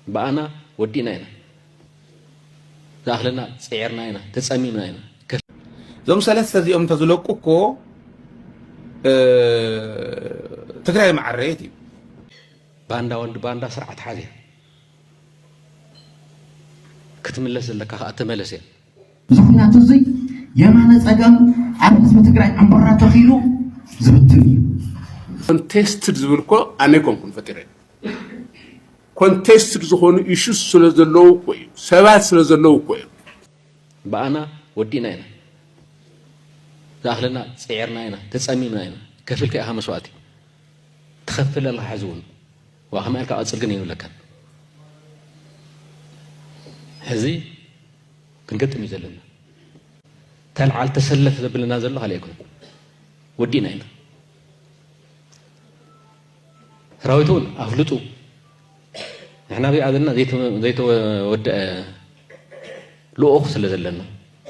እምበኣና ወዲእና ኢና ዝኣኽለና ጽዒርና ኢና ተጸሚምና ኢና እዞም ሰለስተ እዚኦም እንተዝለቁ እኮ ትግራይ መዓረየት እዩ ባንዳ ወዲ ባንዳ ስርዓት ሓዘ ክትምለስ ዘለካ ከዓ ተመለስ እያ ምኽንያቱ እዚ የማነ ፀጋም ኣብ ህዝቢ ትግራይ ዕምቡራ ተኺሉ ዝብትን እዩ። ኮንቴስትድ ዝብል እኮ ኣነ ኣይኮንኩን ፈጢረ ኮንቴስትድ ዝኾኑ ኢሹስ ስለ ዘለዉ እኮ እዩ ሰባት ስለ ዘለዉ እኮ እዮም በኣና ወዲእና ኢና ዝኣኽለና ፅዒርና ኢና ተፀሚምና ኢና ከፊልካ ኢኻ መስዋእቲ ትኸፍል ኣለኻ ሕዚ እውን ዋእ ከመይ ኢልካ ቀጽል ግን የብለካን ሕዚ ክንገጥም እዩ ዘለና ተልዓል ተሰለፍ ዘብለና ዘሎ ካልእ ኣይኮነን ወዲእና ኢና ሰራዊት እውን ኣፍልጡ ንሕና ኣብኣ ዘለና ዘይተወድአ ልኡኽ ስለ ዘለና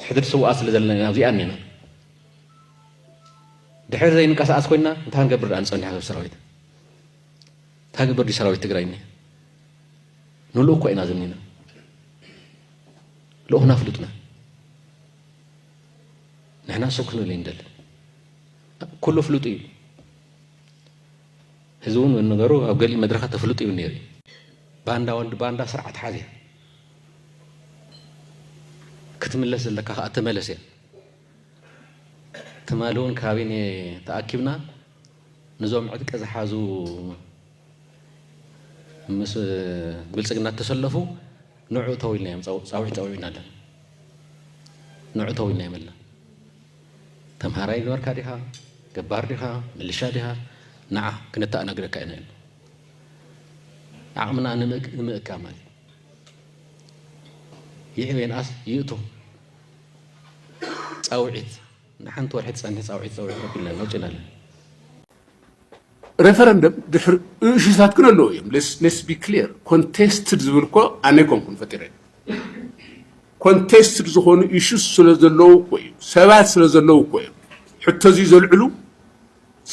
ሕድሪ ስውኣ ስለ ዘለና ኢና ኣብዚኣ እኒና ድሕሪ ዘይንቀሳቀስ ኮይና እንታይ ክንገብር ድኣ ንፀኒሕ ሰብ ሰራዊት እንታይ ገበር ድዩ ሰራዊት ትግራይ እኒሀ ንልኡኽ እኳ ኢና ዝኒና ልኡኽና ኣፍልጡና ንሕና ሰው ክንብል ይንደል ኩሉ ፍሉጡ እዩ እዚ እውን ነገሩ ኣብ ገሊእ መድረኻት ተፍልጡ እዩ ነይሩ ባንዳ ወልዲ ባንዳ ስርዓት ሓዝ እያ ክትምለስ ዘለካ ከዓ ተመለስ እያ ትማሊ እውን ካቢነ ተኣኪብና ንዞም ዕጥቂ ዝሓዙ ምስ ብልፅግና እተሰለፉ ንዑ እተው ኢልናዮም ፃውዒት ፀዊዕና ኣለና። ንዑ እተው ኢልናዮም ኣለና። ተምሃራይ ነበርካ ዲኻ ገባር ዲኻ ምልሻ ዲኻ ንዓ ክነተኣናግደካ ኢና ኢሉ ዓቕምና ንምእካብ ማለት ይዕብ የንኣስ ይእቱ ፃውዒት ንሓንቲ ወርሒ ትጸንሕ ጻውዒት ጸዊዑ ከቢልና ኣሎ ጭና ኣሎ። ሬፈረንደም ድሕሪ እሹታት ግን ኣለዎ እዮም ሌስ ቢ ክሊር ኮንቴስትድ ዝብል እኮ ኣነ ኮንኩን ፈጢረ ኮንቴስትድ ዝኾኑ ኢሹስ ስለ ዘለዉ እኮ እዩ ሰባት ስለ ዘለዉ እኮ እዮም ሕቶ እዚ ዘልዕሉ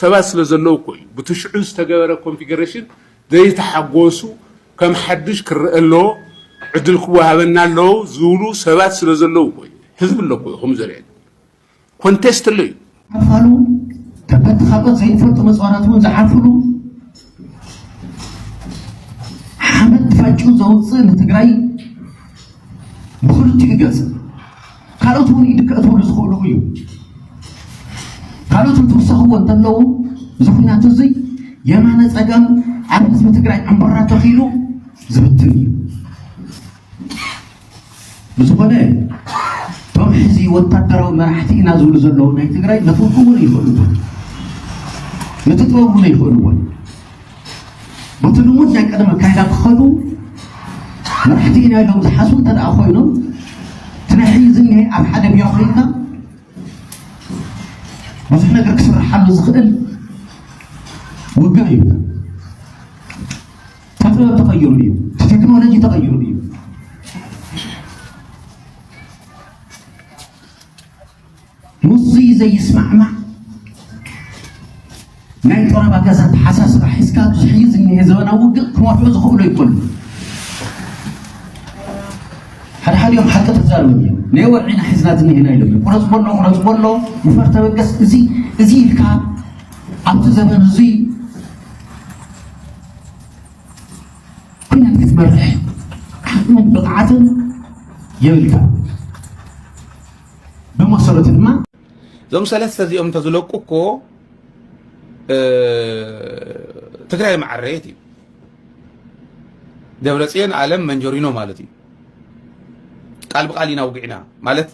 ሰባት ስለዘለዉ እኮ እዩ ብቲ ሽዑ ዝተገበረ ኮንፊገረሽን ዘይተሓጎሱ ከም ሓዱሽ ክረኣ ኣለዎ ዕድል ክወሃበና ኣለዎ ዝብሉ ሰባት ስለዘለዉ እኮ እዩ ህዝቢ ኣሎ እኮ እዩ ከምኡ ዘርእየና ኮንቴስት ኣሎ እዩ። ክፋሉ ከበድቲ ካልኦት ዘይፈልጡ መፅዋራት እውን ዝሓልፍሉ ሓመድ ፋጩ ዘውፅእ ንትግራይ ብክልቲኡ ገፅ ካልኦት እውን ኢድ ከእትውሉ ዝኽእሉ እዩ ካልኦት እንትውሰኽዎ እንተለዉ እዚ ኩናት እዚ የማነ ፀገም ኣብ ህዝቢ ትግራይ ዕምበራ ተኺሉ ዝብትን እዩ ብዝኾነ እቶም ሕዚ ወታደራዊ መራሕቲ ኢና ዝብሉ ዘለዉ ናይ ትግራይ ነቲ እውን ይኽእልዎን ነቲ ጥበብ እውን ይኽእልዎን በቲ ልሙድ ናይ ቀደም ኣካይዳ ክኸዱ መራሕቲ ኢና ኢሎም ዝሓስቡ እንተ ደኣ ኮይኖም እቲ ናይ ሕዚ ዝኒሀ ኣብ ሓደ ቢሮ ኮይንካ ብዙሕ ነገር ክስርሓሉ ዝኽእል ውግእ እዩ እቲ ጥበብ ተቐይሩ እዩ። እቲ ቴክኖሎጂ ተቐይሩ እዩ። ምስዚ ዘይስማዕማዕ ናይ ጠረባ ገዛ ተሓሳስባ ሒዝካ ኣብዚ ሕዚ ዝኒሀ ዘበናዊ ውግእ ክመርሑ ዝኽእሉ ይኮኑ ሓድሓዲኦም ሓቂ ተዛረቡ እዮም ናይ ወርዒና ሒዝና ዝኒሀና ኢሎም እዮም ቁረፅ በሎ ቁረፅ በሎ ንፈር ተበገስ እዚ እዚ ኢልካ ኣብዚ ዘበን እዙይ ኩናት ክትመርሕ ዓቕምን ብቕዓትን የብልካን ብመሰረቱ ድማ እዞም ሰለስተ እዚኦም እንተዝለቁ እኮ ትግራይ መዓረየት እዩ ደብረፅዮን ኣለም መንጀሪኖ ማለት እዩ ቃል ብቃል ኢና ውግዕና ማለት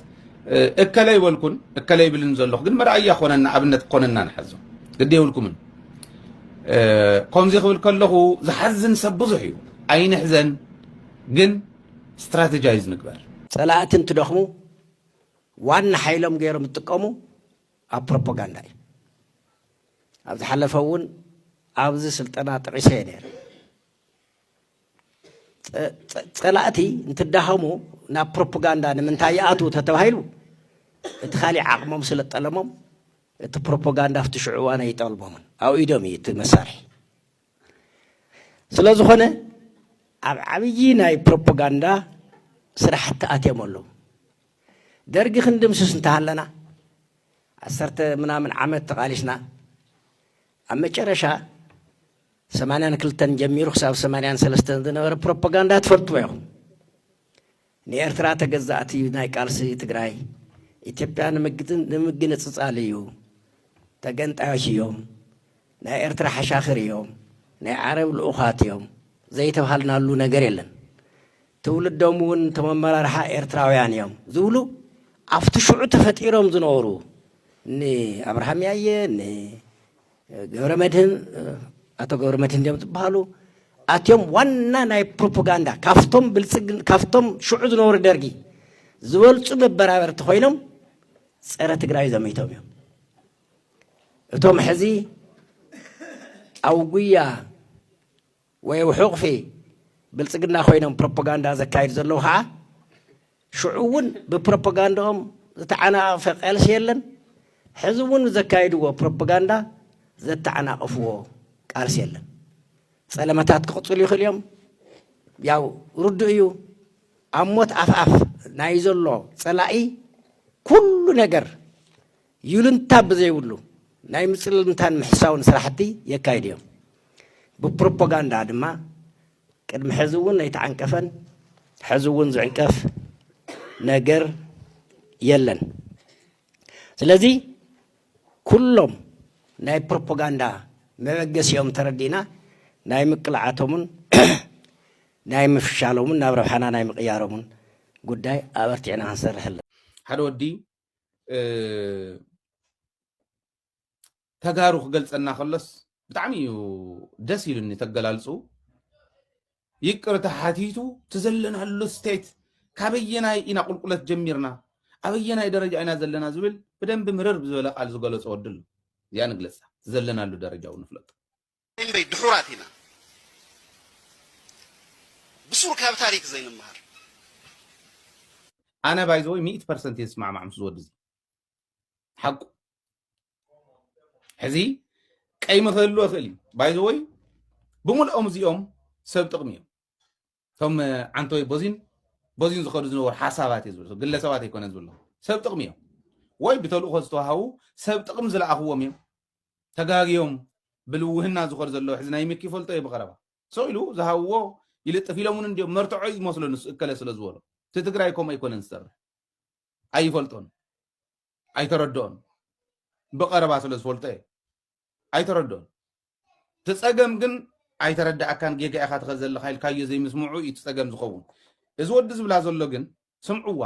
እከለ ይበልኩን እከለ ይብልን ዘለኹ ግን መርኣያ ኮነና ኣብነት ኮነና ንሓዞ ግዲ የብልኩምን ከምዚ ክብል ከለኹ ዝሓዝን ሰብ ብዙሕ እዩ ኣይንሕዘን ግን ስትራቴጃይዝ ንግበር ፀላእቲ እንትደኽሙ ዋና ሓይሎም ገይሮም ዝጥቀሙ ኣብ ፕሮፓጋንዳ እዩ ኣብ ዝሓለፈ እውን ኣብዚ ስልጠና ጥዒሰ እየ ነይረ ፀላእቲ እንትዳኸሙ ናብ ፕሮፓጋንዳ ንምንታይ ይኣትዉ ተተባሂሉ እቲ ካሊእ ዓቕሞም ስለ ጠለሞም እቲ ፕሮፓጋንዳ ኣብቲ ሽዑ እዋን ኣይጠልሞምን ኣብ ኢዶም እዩ እቲ መሳርሒ ስለ ዝኾነ ኣብ ዓብዪ ናይ ፕሮፓጋንዳ ስራሕቲ ኣትዮም ኣለዉ ደርጊ ክንድምስስ እንተሃለና ዓሰርተ ምናምን ዓመት ተቓሊስና ኣብ መጨረሻ ሰማንያን ክልተን ጀሚሩ ክሳብ ሰማንያን ሰለስተን ዝነበረ ፕሮፓጋንዳ ትፈልጥዎ ኢኹም። ንኤርትራ ተገዛእቲ ናይ ቃልሲ ትግራይ ኢትዮጵያ ንምግንፅፃል እዩ፣ ተገንጣዮች እዮም፣ ናይ ኤርትራ ሓሻኽር እዮም፣ ናይ ዓረብ ልኡኻት እዮም ዘይተብሃልናሉ ነገር የለን። ትውልዶም እውን እቶም ኣመራርሓ ኤርትራውያን እዮም ዝብሉ ኣብቲ ሽዑ ተፈጢሮም ዝነበሩ ንኣብርሃም ያየ ገብረመድህን ኣቶ ገብረመድህን ድዮም ዝበሃሉ ኣትዮም ዋና ናይ ፕሮፓጋንዳ ካብቶም ብልፅግ ካብቶም ሽዑ ዝነበሩ ደርጊ ዝበልፁ መበራበርቲ ኮይኖም ፀረ ትግራይ ዘሚቶም እዮም እቶም ሕዚ ኣብ ጉያ ወየው ሕቑፊ ብልጽግና ኮይኖም ፕሮፖጋንዳ ዘካይዱ ዘለዉ ኸዓ ሽዑ እውን ብፕሮፖጋንዳኦም ዝተዓናቐፈ ቐልሲ የለን ሕዚ እውን ዘካይድዎ ፕሮፖጋንዳ ዘተዓናቕፍዎ ቃልሲ የለን ጸለመታት ክቕጽሉ ይኽእሉ እዮም ያው ርዱእ እዩ ኣብ ሞት ኣፍኣፍ ናይ ዘሎ ጸላኢ ኩሉ ነገር ይሉንታ ብዘይብሉ ናይ ምጽልልምታን ምሕሳውን ስራሕቲ የካይዱ እዮም። ብፕሮፖጋንዳ ድማ ቅድሚ ሕዚ እውን ኣይተዓንቀፈን ሕዚ እውን ዝዕንቀፍ ነገር የለን። ስለዚ ኩሎም ናይ ፕሮፖጋንዳ መበገሲኦም ተረዲእና ናይ ምቅላዓቶምን ናይ ምፍሻሎምን ናብ ረብሓና ናይ ምቕያሮምን ጉዳይ ኣበርቲዕና ክንሰርሕ ኣለና። ሓደ ወዲ ተጋሩ ክገልፀና ከሎስ ብጣዕሚ እዩ ደስ ኢሉኒ ተገላልፁ ይቅርታ ሓቲቱ ትዘለናሉ ስቴት ካበየናይ ኢና ቁልቁለት ጀሚርና ኣበየናይ ደረጃ ኢና ዘለና ዝብል ብደንብ ምርር ብዝበለ ቃል ዝገለፆ ወዲ ኣሎ እዚኣ ንግለፃ ትዘለናሉ ደረጃ እውን ንፍለጡ እምበይ ድሑራት ኢና ብሱር ካብ ታሪክ ዘይንመሃር። ኣነ ባይ ዘ ወይ ሚእቲ ፐርሰንት እየ ዝስማዕማዕ ምስ ዝወዲ እዚ ሓቁ ሕዚ ቀይሚ ክህልዎ ይኽእል እዩ ባይ ዘ ወይ ብምልኦም እዚኦም ሰብ ጥቕሚ እዮም እቶም ዓንቶይ ቦዚን ቦዚን ዝኸዱ ዝነበሩ ሓሳባት እዩ ዝብል ግለሰባት ኣይኮነን ዝብሎ ሰብ ጥቕሚ እዮም ወይ ብተልእኾ ዝተዋሃቡ ሰብ ጥቕሚ ዝለኣኽዎም እዮም ተጋግዮም ብልውህና ዝኸዱ ዘለዎ ሕዚ ናይ ምኪ ፈልጦ እየ ብቐረባ ሰው ኢሉ ዝሃብዎ ይልጥፍ ኢሎም እውን እንዲዮም መርትዖ እዩ ዝመስሎ ንሱ እከለ ስለ ዝበሎ እቲ ትግራይ ከምኡ ኣይኮነን ዝሰርሕ ኣይፈልጦን ኣይተረድኦን ብቐረባ ስለ ዝፈልጦ እዩ ኣይተረድኦን እቲ ጸገም ግን ኣይተረዳኣካን ጌጋ ኢኻ ትኸ ዘለኻ ኢልካዮ ዘይምስምዑ እዩ እቲ ጸገም ዝኸውን እዚ ወዲ ዝብላ ዘሎ ግን ስምዕዋ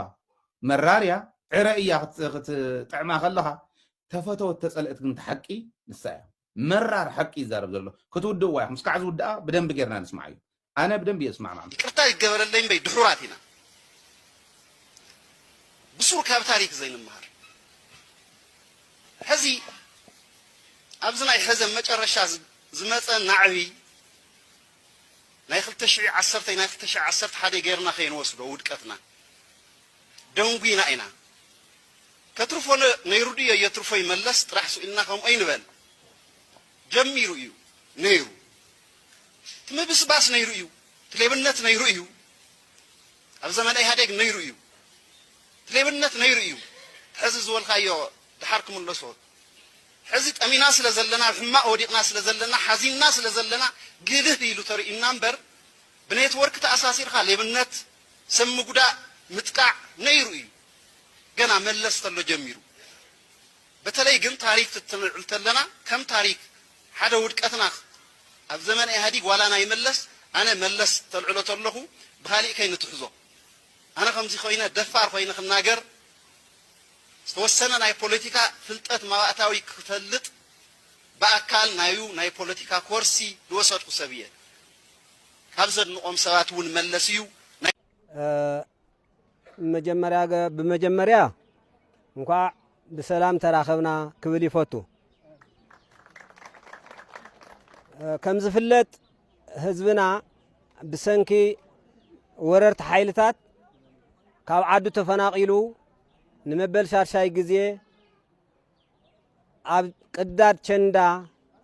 መራር እያ ዕረ እያ ክትጥዕማ ከለኻ ተፈተወት ተጸልእት ግን እቲ ሓቂ ንሳ እያ መራር ሓቂ ይዛረብ ዘሎ ክትውድእዋ ኢኹም እስካዕ ዝውድኣ ብደንቢ ጌርና ንስምዓዮ ኣነ ብደንቢ እየ ዝስማዕማዕ ምስኡ። ይቅርታ ይገበረለይ እምበይ ድሑራት ኢና ብሱር ካብ ታሪክ ዘይንመሃር ሕዚ ኣብዚ ናይ ሕዘ መጨረሻ ዝመጸ ናዕቢ ናይ ክልተ ሽዒ ዓሰርተይ ናይ ክልተ ሽዒ ዓሰርተ ሓደይ ገርና ከይንወስዶ ውድቀትና ደንጉይና ኢና ከትርፎ ነይሩ ድዮ የትርፎይ መለስ ጥራሕ ስኢልና ከምኡ ኣይንበል ጀሚሩ እዩ ነይሩ እቲ ምብስባስ ነይሩ እዩ፣ እቲ ሌብነት ነይሩ እዩ፣ ኣብ ዘመነ ኢህኣዴግ ነይሩ እዩ፣ እቲ ሌብነት ነይሩ እዩ፣ ሕዚ ዝበልካዮ ደሓር ክምለሶ ሕዚ ጠሚና ስለ ዘለና ኣብ ሕማቕ ወዲቕና ስለ ዘለና ሓዚንና ስለ ዘለና ግልህ ኢሉ ተርእዩና እምበር ብኔትወርክ ተኣሳሲርካ ሌብነት ሰብ ምጉዳእ ምጥቃዕ ነይሩ እዩ ገና መለስ ተሎ ጀሚሩ በተለይ ግን ታሪክ ክትንብል ተለና ከም ታሪክ ሓደ ውድቀትና ኣብ ዘመነ ኢህኣዲግ ዋላ ናይ መለስ ኣነ መለስ ተልዕሎ ተለኩ ብካሊእ ከይንትሕዞ ኣነ ከምዚ ኮይነ ደፋር ኮይነ ክናገር ዝተወሰነ ናይ ፖለቲካ ፍልጠት ማባእታዊ ክፈልጥ ብኣካል ናዩ ናይ ፖለቲካ ኮርሲ ልወሰድኩ ሰብ እየ ካብ ዘድንቆም ሰባት እውን መለስ እዩ ናይ ብመጀመርያ እንኳዕ ብሰላም ተራኸብና ክብል ይፈቱ። ከም ዝፍለጥ ህዝብና ብሰንኪ ወረርቲ ሓይልታት ካብ ዓዱ ተፈናቒሉ ንመበል ሻድሻይ ግዜ ኣብ ቅዳድ ቸንዳ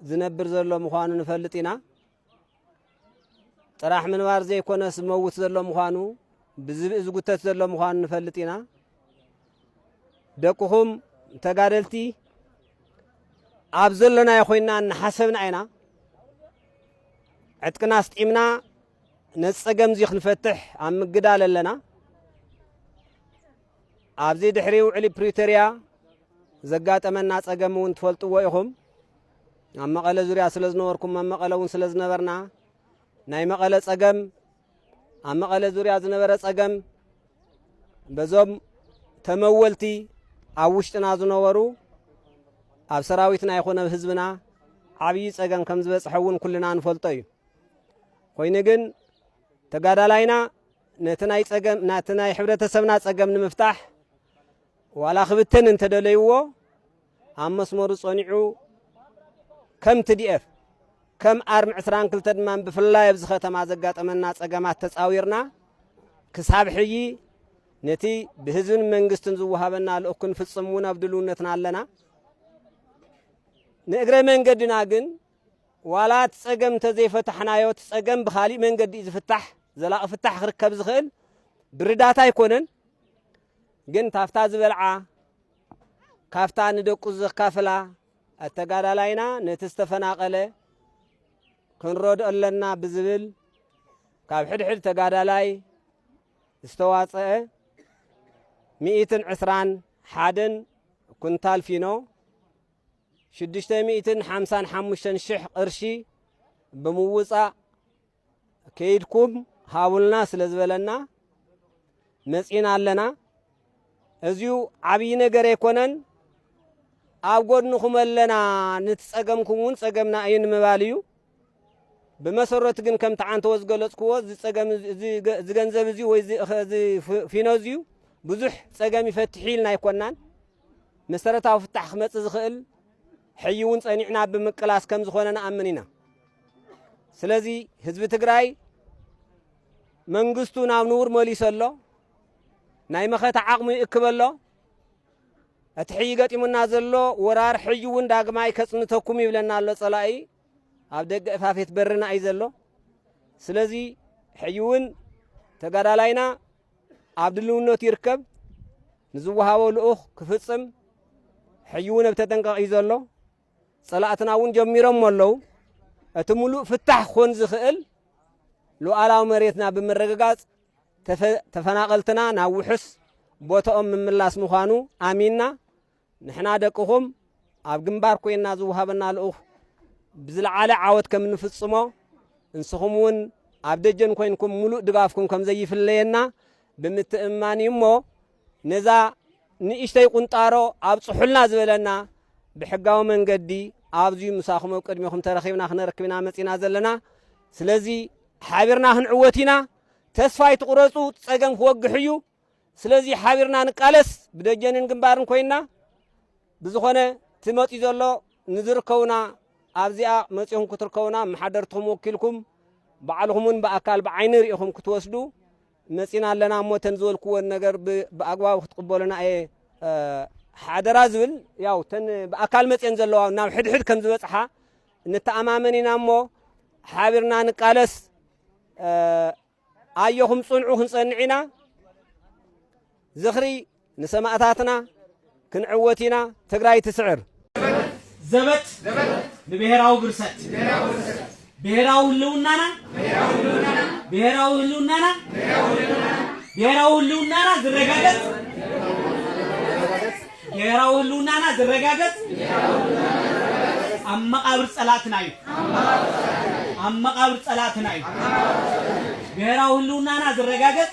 ዝነብር ዘሎ ምዃኑ ንፈልጥ ኢና። ጥራሕ ምንባር ዘይኮነስ ዝመውት ዘሎ ምዃኑ ብዝብኢ ዝጉተት ዘሎ ምዃኑ ንፈልጥ ኢና ደቅኹም ተጋደልቲ ኣብ ዘሎናዮ ኮይንና እናሓሰብና ኢና ዕጥቅና ኣስጢምና ነዚ ጸገም እዚ ክንፈትሕ ኣብ ምግዳል ኣለና ኣብዚ ድሕሪ ውዕሊ ፕሪቶርያ ዘጋጠመና ጸገም እውን ትፈልጥዎ ኢኹም ኣብ መቐለ ዙርያ ስለ ዝነበርኩም ኣብ መቐለ እውን ስለ ዝነበርና ናይ መቐለ ጸገም ኣብ መቐለ ዙርያ ዝነበረ ጸገም በዞም ተመወልቲ ኣብ ውሽጥና ዝነበሩ ኣብ ሰራዊትና ይኹን ኣብ ህዝብና ዓብዪ ጸገም ከም ዝበጽሐ እውን ኩልና ንፈልጦ እዩ ኮይኑ ግን ተጋዳላይና ነቲ ናይ ጸገም ናቲ ናይ ሕብረተሰብና ጸገም ንምፍታሕ ዋላ ክብተን እንተደለይዎ ኣብ መስመሩ ጸኒዑ ከም TDF ከም ኣርሚ ዕስራን ክልተ ድማ ብፍላይ ኣብዚ ከተማ ዘጋጠመና ጸገማት ተጻዊርና ክሳብ ሕጂ ነቲ ብህዝብን መንግስትን ዝወሃበና ልኡኽ ክንፍጽም እውን ኣብ ድልውነትና ኣለና። ንእግረ መንገድና ግን ዋላ እቲ ጸገም እንተዘይፈታሕናዮ እቲ ጸገም ብካሊእ መንገዲ እዩ ዝፍታሕ ዘላቒ ፍታሕ ክርከብ ዝኽእል ብርዳታ ኣይኮነን ግን ታፍታ ዝበልዓ ካፍታ ንደቁ ዘካፍላ ኣተጋዳላይና ነቲ ዝተፈናቐለ ክንረድኦ ኣለና ብዝብል ካብ ሕድሕድ ተጋዳላይ ዝተዋፀአ ሚእትን ዕስራን ሓደን ኩንታል ፊኖ ሽዱሽተ ሚእትን ሓምሳን ሓሙሽተን ሽሕ ቅርሺ ብምውፃእ ከይድኩም ሃቡልና ስለ ዝበለና መጺና ኣለና። እዚዩ ዓብዪ ነገር ኣይኮነን። ኣብ ጎድንኹም ኣለና ነቲ ጸገምኩም እውን ጸገምና እዩ ንምባል እዩ ብመሰረቱ ግን ከምቲ ዓንተወ ዝገለጽክዎ እዚ ጸገም እዚ ገንዘብ እዚ ወይ እዚ ፊኖ እዚዩ ብዙሕ ጸገም ይፈትሕ ኢልና ኣይኮናን መሰረታዊ ፍታሕ ክመጽእ ዝኽእል ሕይ እውን ጸኒዕና ብምቅላስ ከም ዝኾነ ንኣምን ኢና ስለዚ ህዝቢ ትግራይ መንግስቱ ናብ ንቡር መሊሶ ኣሎ ናይ መኸተ ዓቕሙ ይእክበ ኣሎ እቲ ሕጂ ገጢሙና ዘሎ ወራር ሕጂ እውን ዳግማይ ከጽንተኩም ይብለና ኣሎ ጸላኢ ኣብ ደገ እፋፌት በርና እዩ ዘሎ ስለዚ ሕጂ እውን ተጋዳላይና ኣብ ድልውነቱ ይርከብ ንዝወሃቦ ልኡኽ ክፍጽም ሕጂ እውን ኣብ ተጠንቀቕ እዩ ዘሎ ፀላእትና እውን ጀሚሮሞ ኣለው። እቲ ሙሉእ ፍታሕ ክኾን ዝኽእል ሉኣላዊ መሬትና ብምርግጋፅ ተፈናቐልትና ናብ ውሑስ ቦትኦም ምምላስ ምዃኑ ኣሚንና ንሕና ደቅኹም ኣብ ግንባር ኮይና ዝወሃበና ልኡኽ ብዝለዓለ ዓወት ከም እንፍፅሞ እንስኹም እውን ኣብ ደጀን ኮይንኩም ሙሉእ ድጋፍኩም ከም ዘይፍለየና ብምትእምማን እዩ እሞ ነዛ ንእሽተይ ቁንጣሮ ኣብጽሑልና ዝበለና ብሕጋዊ መንገዲ ኣብዚዩ ምሳኹም ኣብ ቅድሚኹም ተረኺብና ክነርክብ ኢና መጺና ዘለና ስለዚ ሓቢርና ክንዕወት ኢና ተስፋ ኣይትቑረጹ ጸገም ክወግሕ እዩ ስለዚ ሓቢርና ንቃለስ ብደጀንን ግንባርን ኮይና ብዝኾነ እቲ መፅኡ ዘሎ ንዝርከቡና ኣብዚኣ መፂኹም ክትርከቡና መሓደርትኹም ወኪልኩም ባዕልኹም እውን ብኣካል ብዓይኒ ርኢኹም ክትወስዱ መጺና ኣለና እሞ እተን ዝበልክወን ነገር ብኣግባቡ ክትቕበሉና እየ ሓደራ ዝብል ያው እተን ብኣካል መጽየን ዘለዋ ናብ ሕድሕድ ከም ዝበጽሓ ንተኣማመን ኢና እሞ ሓቢርና ንቃለስ ኣየኹም ጽንዑ ክንጸንዕ ኢና ዝኽሪ ንሰማእታትና ክንዕወት ኢና ትግራይ ትስዕር። ዘበት ንብሄራዊ ብርሰት ብሄራዊ ህልውናና ብሄራዊ ህልውናና ብሄራዊ ህልውናና ዝረጋገፅ ብሄራዊ ህልውናና ዝረጋገፅ ኣብ መቃብር ፀላእትና እዩ ኣብ መቃብር ፀላእትና እዩ ብሄራዊ ህልውናና ዝረጋገፅ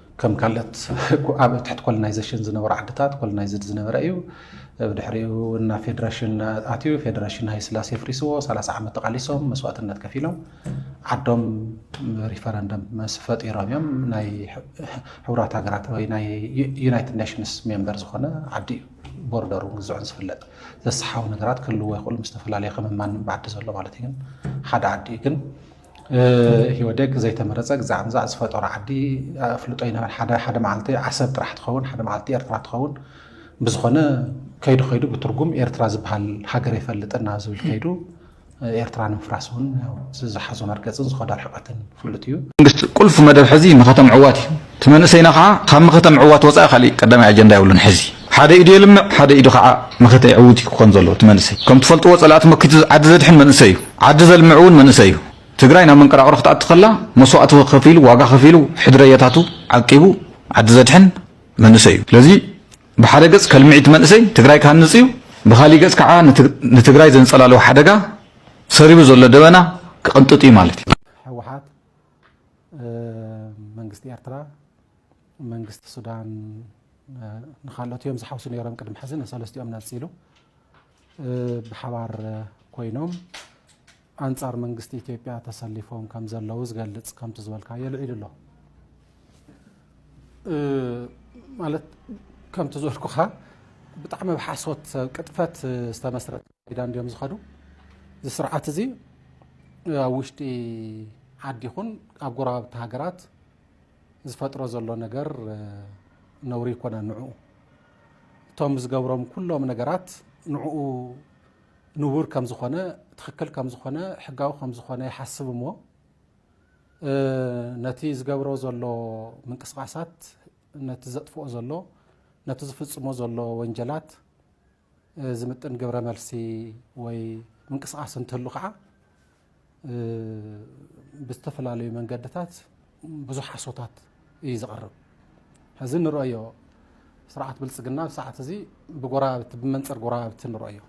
ከም ካልኦት ኣብ ትሕቲ ኮሎናይዘሽን ዝነበሩ ዓድታት ኮሎናይዝድ ዝነበረ እዩ። ብድሕሪኡ እና ፌደሬሽን ኣትዩ ፌደሬሽን ሃይስላሴ ፍሪስዎ ሰላሳ ዓመት ተቃሊሶም መስዋእትነት ከፊሎም ዓዶም ሪፈረንደም መስ ፈጢሮም እዮም ናይ ሕቡራት ሃገራት ወይ ናይ ዩናይትድ ኔሽንስ ሜምበር ዝኾነ ዓዲ እዩ። ቦርደሩ ግዝዑን ዝፍለጥ ዘሰሓቡ ነገራት ክህልዎ ይኽእሉ ምስ ዝተፈላለዩ ከም ማንም ዓዲ ዘሎ ማለት እዩ ግን ሓደ ዓዲ እዩ ግን ኢህወዴግ ዘይተመረፀ ግዛዕምዛዕ ዝፈጠሮ ዓዲ ኣፍልጦ ይነበረ ሓደ መዓልቲ ዓሰብ ጥራሕ ትኸውን ሓደ መዓልቲ ኤርትራ ትኸውን ብዝኾነ ከይዱ ከይዱ ብትርጉም ኤርትራ ዝበሃል ሃገር የፈልጥና ዝብል ከይዱ ኤርትራ ንምፍራስ እውን ዝሓዞ መርገፅን ዝኸዶ ርሕቀትን ፍሉጥ እዩ መንግስቲ ቁልፊ መደብ ሕዚ ንከተምዕዋት እዩ እቲ መንእሰይና ከኣ ካብ መኸተ ምዕዋት ወጻኢ ካሊእ ቀዳማይ ኣጀንዳ የብሉን ሕዚ። ሓደ ኢዱ የልምዕ ሓደ ኢዱ ከኣ መኸተ የዕውት እዩ ክኾን ዘለዎ እቲ መንእሰይ። ከም ትፈልጥዎ ጸላእቲ መኪቱ ዓዲ ዘድሕን መንእሰይ እዩ። ዓዲ ዘልምዕ እውን መንእሰይ እዩ። ትግራይ ናብ መንቀራቕሮ ክትኣቱ ከላ መስዋእቲ ከፊሉ ዋጋ ከፊሉ ሕድረየታቱ ዓቂቡ ዓዲ ዘድሕን መንእሰይ እዩ። ስለዚ ብሓደ ገጽ ከልምዕ እቲ መንእሰይ ትግራይ ክሃንጽ እዩ ብኻሊእ ገጽ ከኣ ንትግራይ ዘንጸላልዎ ሓደጋ ሰሪቡ ዘሎ ደበና ክቕንጥጥ እዩ ማለት እዩ። መንግስቲ ኤርትራ መንግስቲ ሱዳን ንካልኦት እዮም ዝሓውሱ ነይሮም ቅድሚ ሕዚ ንሰለስቲኦም ነፂሉ ብሓባር ኮይኖም ኣንጻር መንግስቲ ኢትዮጵያ ተሰሊፎም ከም ዘለዉ ዝገልጽ ከምቲ ዝበልካዮ ልዒሉ ኣሎ ማለት ከምቲ ዝበልኩኻ ብጣዕሚ ብሓሶት ቅጥፈት ዝተመስረተ ኪዳን ድዮም ዝኸዱ እዚ ስርዓት እዚ ኣብ ውሽጢ ዓዲ ይኹን ኣብ ጎረባብቲ ሃገራት ዝፈጥሮ ዘሎ ነገር ነውሪ ይኮነ ንዕኡ እቶም ዝገብሮም ኩሎም ነገራት ንዕኡ ንቡር ከም ዝኾነ ትክክል ከም ዝኾነ ሕጋዊ ከም ዝኾነ ይሓስብ እሞ ነቲ ዝገብሮ ዘሎ ምንቅስቃሳት ነቲ ዘጥፍኦ ዘሎ ነቲ ዝፍፅሞ ዘሎ ወንጀላት ዝምጥን ግብረ መልሲ ወይ ምንቅስቃስ እንተሉ ከዓ ብዝተፈላለዩ መንገድታት ብዙሕ ሓሶታት እዩ ዝቐርብ ሕዚ ንርእዮ ስርዓት ብልፅግና ኣብ ሰዓት እዚ ብጎረባብቲ ብመንፅር ጎረባብቲ ንርእዮ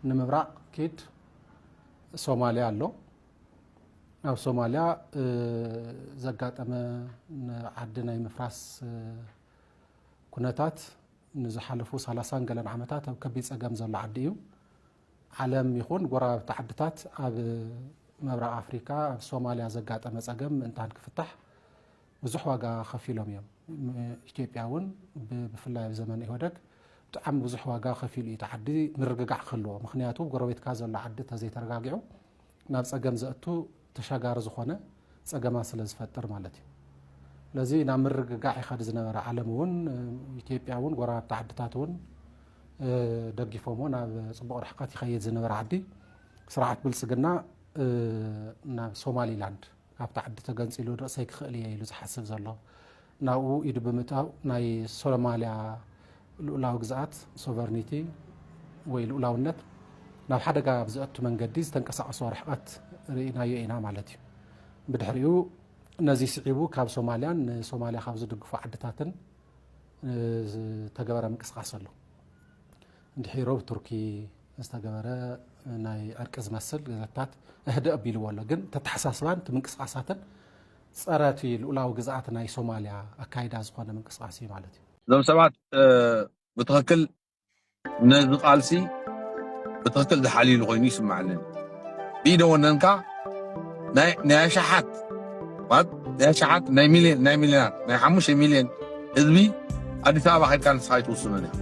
ንምብራቕ ኪድ ሶማሊያ ኣሎ ናብ ሶማሊያ ዘጋጠመ ዓዲ ናይ ምፍራስ ኩነታት ንዝሓለፉ ሰላሳን ገለን ዓመታት ኣብ ከቢድ ጸገም ዘሎ ዓዲ እዩ። ዓለም ይኹን ጎረባብቲ ዓድታት ኣብ ምብራቕ ኣፍሪካ ኣብ ሶማልያ ዘጋጠመ ጸገም ምእንታን ክፍታሕ ብዙሕ ዋጋ ከፊሎም እዮም። ኢትዮጵያ እውን ብፍላይ ኣብ ዘመን ኢህወደግ ብጣዕሚ ብዙሕ ዋጋ ከፊሉ እዩ እቲ ዓዲ ምርግጋዕ ክህልዎ። ምክንያቱ ጎረቤትካ ዘሎ ዓዲ ተዘይተረጋጊዑ ናብ ፀገም ዘእቱ ተሻጋሪ ዝኾነ ፀገማት ስለ ዝፈጥር ማለት እዩ። ስለዚ ናብ ምርግጋዕ ይኸድ ዝነበረ ዓለም እውን ኢትዮጵያ እውን ጎረባብቲ ዓድታት እውን ደጊፎሞ ናብ ፅቡቕ ርሕቀት ይኸይድ ዝነበረ ዓዲ ስርዓት ብልፅግና ናብ ሶማሊላንድ ካብቲ ዓዲ ተገንፂሉ ርእሰይ ክኽእል እየ ኢሉ ዝሓስብ ዘሎ ናብኡ ኢዱ ብምእታው ናይ ሶማልያ ልኡላዊ ግዝኣት፣ ሶቨርኒቲ፣ ወይ ልኡላውነት ናብ ሓደጋ ብዘእቱ መንገዲ ዝተንቀሳቐሶ ርሕቐት ርኢናዮ ኢና ማለት እዩ። ብድሕሪኡ ነዚ ስዒቡ ካብ ሶማልያን ንሶማልያ ካብ ዝድግፉ ዓድታትን ዝተገበረ ምንቅስቓስ ኣሎ። እንድሕሪ ሮብ ቱርኪ ዝተገበረ ናይ ዕርቂ ዝመስል ገዘታት እህደ ኣቢልዎ ኣሎ ግን ተተሓሳስባን እቲ ምንቅስቓሳትን ጸረ እቲ ልኡላዊ ግዝኣት ናይ ሶማልያ ኣካይዳ ዝኾነ ምንቅስቓስ እዩ ማለት እዩ። እዞም ሰባት ብትኽክል ነዚ ቃልሲ ብትኽክል ዝሓልዩሉ ኮይኑ ይስምዓኒ። ብኢደ ወነንካ ናይ ኣሽሓት ማለት ናይ ኣሽሓት ናይ ሚልዮን ናይ ሚልዮናት ናይ ሓሙሽተ ሚልዮን ህዝቢ ኣዲስ ኣበባ ከድካ ንስኻ ኣይትውስኑን ኢኻ።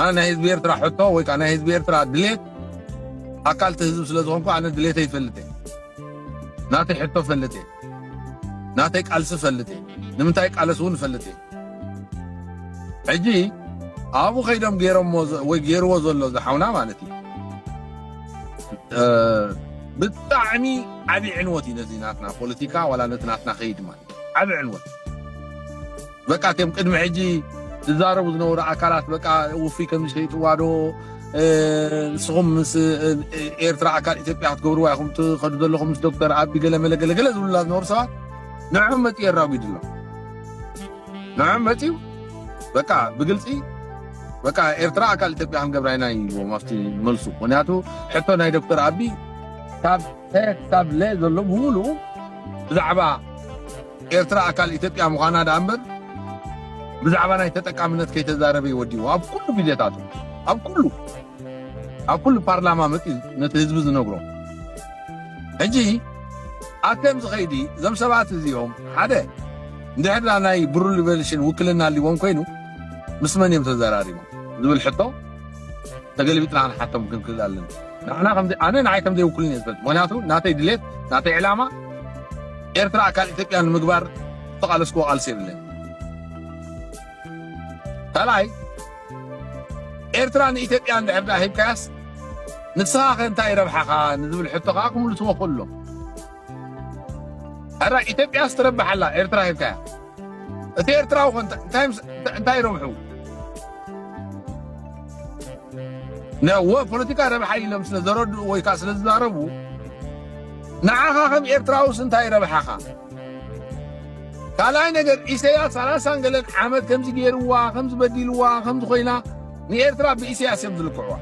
ኣነ ናይ ህዝቢ ኤርትራ ሕቶ ወይ ከዓ ናይ ህዝቢ ኤርትራ ድሌት ኣካል እቲ ህዝቢ ስለ ዝኾንኩ ኣነ ድሌተ ይፈልጥ እየ ናተይ ሕቶ ፈልጥ እየ ናተይ ቃልሲ ፈልጥ እየ ንምንታይ ቃለስ እውን ፈልጥ እየ ሕጂ ኣብኡ ከይዶም ገይሮሞ ወይ ገይርዎ ዘሎ ዝሓውና ማለት እዩ ብጣዕሚ ዓብዪ ዕንወት እዩ ነዚ ናትና ፖለቲካ ዋላ ነቲ ናትና ከይድ ማለት ዓብዪ ዕንወት በቃ ከም ቅድሚ ሕጂ ዝዛረቡ ዝነበሩ ኣካላት በቃ ውፍይ ከምዚ ከይጥዋዶ ንስኹም ምስ ኤርትራ ኣካል ኢትዮጵያ ክትገብርዋ ኢኹም ትኸዱ ዘለኹም ምስ ዶክተር ኣቢ ገለመለ ገለገለ ዝብሉላ ዝነበሩ ሰባት ንዕም መፂኡ የራጒድ ኣሎ ንዕም መፂኡ በቃ ብግልፂ በቃ ኤርትራ ኣካል ኢትዮጵያ ክንገብራ ኢና ይዎም ኣብቲ መልሱ ምክንያቱ ሕቶ ናይ ዶክተር ኣቢ ካብ ተ ክሳብ ለ ዘሎ ብምሉኡ ብዛዕባ ኤርትራ ኣካል ኢትዮጵያ ምዃና ደኣ እምበር ብዛዕባ ናይ ተጠቃምነት ከይተዛረበ እዩ ወዲኡ ኣብ ኩሉ ግዜታቱ ኣብ ኩሉ ኣብ ኩሉ ፓርላማ መፅዩ ነቲ ህዝቢ ዝነግሮ ሕጂ ኣተም ዝኸይዲ እዞም ሰባት እዚኦም ሓደ እንድሕር ዳ ናይ ብሩ ሊቨልሽን ውክልና ኣሊዎም ኮይኑ ምስ መን እዮም ተዘራሪቦም ዝብል ሕቶ ተገልቢጥና ክንሓቶም ክንክእል ኣለና ንሕና ከምዘይ ኣነ ንዓይ ከምዘይ ውክሉኒ እየ ዝፈልጥ ምክንያቱ ናተይ ድሌት ናተይ ዕላማ ኤርትራ ኣካል ኢትዮጵያ ንምግባር ዝተቃለስክዎ ቃልሲ የብለይ ካልኣይ ኤርትራ ንኢትዮጵያ እንድሕር ድኣ ሂብካያስ ንስኻ ከ እንታይ ረብሓኻ ንዝብል ሕቶ ከዓ ክምልስዎ ክእሎም ሕራይ ኢትዮጵያስ ትረብሕ ኣላ ኤርትራ ሂብካያ እቲ ኤርትራዊ ኮን እንታይ ረብሑ ነወ ፖለቲካ ረብሓ ኢሎም ስለ ዘረድኡ ወይ ከዓ ስለ ዝዛረቡ ንዓኻ ከም ኤርትራውስ እንታይ ረብሓኻ ካልኣይ ነገር ኢሰያስ ሰላሳን ገለን ዓመት ከምዚ ገይርዋ ከምዚ በዲልዋ ከምዚ ኮይና ንኤርትራ ብኢሰያስ እዮም ዝልክዕዋ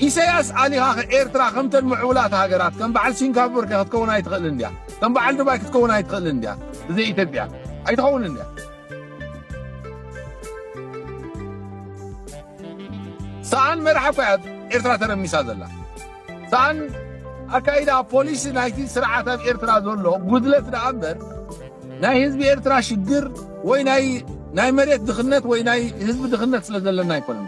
ኢሰያስ ኣሊኻኸ ኤርትራ ከምተን ምዕቡላት ሃገራት ከም በዓል ሲንጋፖር ከ ክትከውን ኣይትኽእልን ድያ? ከም በዓል ዱባይ ክትከውን ኣይትኽእልን ድያ? ብዘይ ኢትዮጵያ ኣይትኸውንን ድያ? ሰኣን መራሒ እኳ እያ ኤርትራ ተረሚሳ ዘላ። ሰኣን ኣካይዳ ፖሊሲ ናይቲ ስርዓት ኣብ ኤርትራ ዘሎ ጉድለት ደኣ እምበር ናይ ህዝቢ ኤርትራ ሽግር ወይ ናይ ናይ መሬት ድኽነት ወይ ናይ ህዝቢ ድኽነት ስለ ዘለና ኣይኮነን።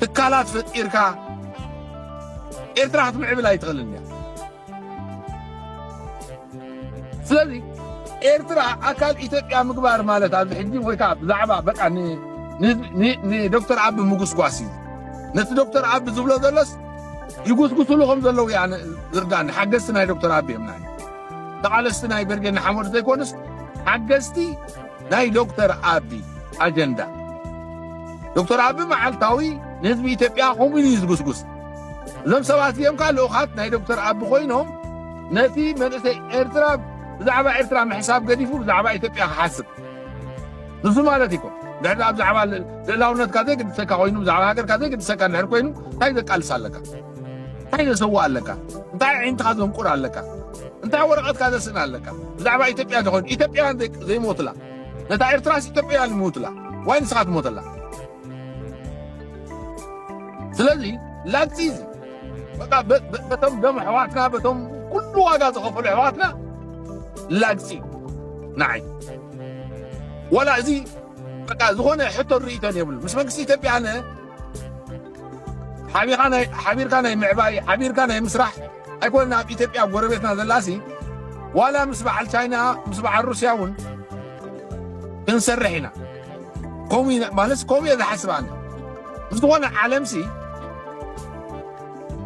ትካላት ፈጢርካ ኤርትራ ክትምዕብል ኣይትኽእልን እያ። ስለዚ ኤርትራ ኣካል ኢትዮጵያ ምግባር ማለት ኣብዚ ሕጂ ወይ ከዓ ብዛዕባ በቃ ንዶክተር ኣቢ ምጉስጓስ እዩ። ነቲ ዶክተር ኣቢ ዝብሎ ዘሎስ ይጉስጉስሉ ከም ዘለዉ እያ ዝርዳኒ። ሓገዝቲ ናይ ዶክተር ኣቢ እዮም ናይ ተቓለስቲ ናይ በርጌድ ንሓመዱ ዘይኮኑስ ሓገዝቲ ናይ ዶክተር ኣቢ ኣጀንዳ ዶክተር ኣቢ መዓልታዊ ንህዝቢ ኢትዮጵያ ከምኡ እዩ ዝጉስጉስ እዞም ሰባት እዚኦም ከዓ ልኡኻት ናይ ዶክተር ኣቢ ኮይኖም ነቲ መንእሰይ ኤርትራ ብዛዕባ ኤርትራ ምሕሳብ ገዲፉ ብዛዕባ ኢትዮጵያ ክሓስብ ንሱ ማለት ይኮ ድሕሪ ኣብ ዛዕባ ልእላውነትካ ዘይግድሰካ ኮይኑ ብዛዕባ ሃገርካ ዘይግድሰካ ድሕር ኮይኑ እንታይ ዘቃልስ ኣለካ እንታይ ዘሰውእ ኣለካ እንታይ ኣዒንትኻ ዘንቁር ኣለካ እንታይ ወረቐትካ ዘስእን ኣለካ ብዛዕባ ኢትዮጵያ ዝኾን ኢትዮጵያውያን ዘይሞትላ ነታ ኤርትራስ ኢትዮጵያውያን ይሞትላ ዋይ ንስኻ ትሞተላ ስለዚ ላግፂ እዚ በቃ በቶም ደም ኣሕዋትና በቶም ኩሉ ዋጋ ዝኸፈሉ ኣሕዋትና ላግፂ ንዓይ ወላ እዚ በቃ ዝኾነ ሕቶን ርእይቶን የብሉ ምስ መንግስቲ ኢትዮጵያ ኣነ ሓቢርካ ናይ ምዕባይ ሓቢርካ ናይ ምስራሕ ኣይኮነን ኣብ ኢትዮጵያ ጎረቤትና ዘላሲ ዋላ ምስ በዓል ቻይና ምስ በዓል ሩስያ እውን ክንሰርሕ ኢና ከምኡ ኢና ማለት ከምኡ እየ ዝሓስብ ኣነ ምስ ዝኾነ ዓለምሲ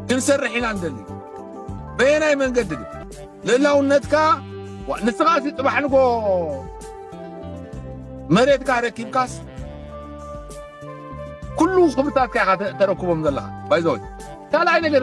ክንሰርሕ ኢና ንደሊ በየናይ መንገዲ ግን ልእላውነትካ ንስኻ ሲ ፅባሕ ንጎ መሬትካ ረኪብካስ ኩሉ ክብርታትካ ኢኻ ተረክቦም ዘለኻ ባይዘወይ ካልኣይ ነገር